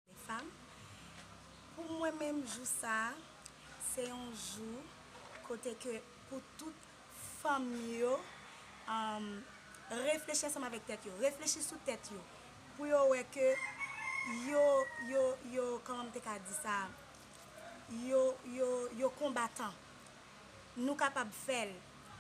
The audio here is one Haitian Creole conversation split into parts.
Mefam, pou mwen menm jou sa a, se yon jou kote ke pou tout fanm yo reflechi ansanm avèk tèt yo, reflechi sou tèt yo, pou yo wè ke yo, yo, yo, kòman m te ka di sa? Yo yo yo konbatan. Nou kapab fèl.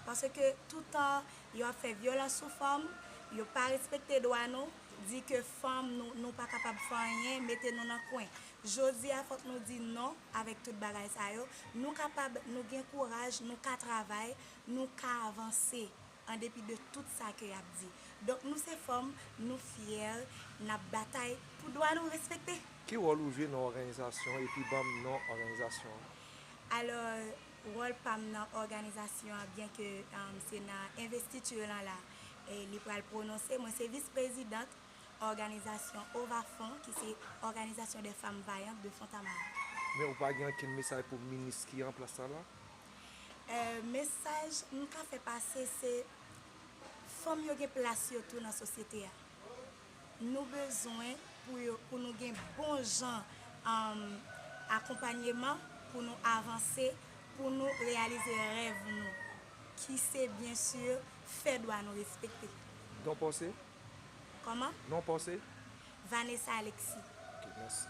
Paske toutan yo ap fè vyolans sou fanm, yo pa respekte dwa nou, di ke fanm nou nou pa kapab fè anyen, mete nou nan kwen. Jodi a fòk nou di non avèk tout bagay sa yo. Nou kapab, nou gen kouraj, nou ka travay, nou ka avanse. an depi de tout sa ke yap di donk nou se fanm nou fyè nap batay pou dwa nou respekte. Ki wòl ou jwe nan òganizasyon epi banm non òganizasyon an? Alò wòl pam nan òganizasyon an byen ke se nan envestiture lan la li pral prononse mwen se vis prezidant òganizasyon OVAFEM ki se òganizasyon dè fanm vayant de Fontamara. Men ou pa gen ankenn mesaj pou minis ki an plas la la? Mesaj m ka fè pase se fanm yo gen plas yo tou nan sosyete a. Nou bezwen pou nou gen bon jan akonpanyeman pou nou avanse, pou nou reyalize rèv nou ki se byen sur fè dwa nou respekte. Non paw se? Kòman? Non paw se? Vanessa Alexis. Ok, mèsi.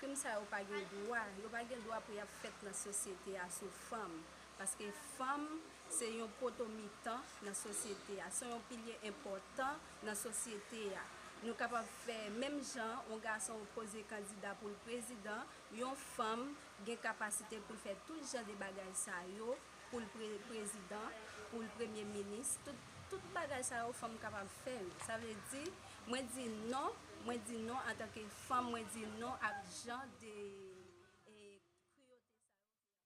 Krim sa yo pa gen dwa, yo pa gen dwa pou y ap fèt nan sosyete a sou fanm. Paske fanm se yon poto mitan nan sosyete a, se yon pilye enpòtan nan sosyete a. Nou kapab fè menm jan yon gason poze kandida pou l prezidan, yon fanm gen kapasite pou l fè tout jan de bagay sa yo. poul prezidan poul premye minis tout bagay sa yo fanm kapab fèl sa vle di mwen di non mwen di non antanke fanm mwen di non ak jan de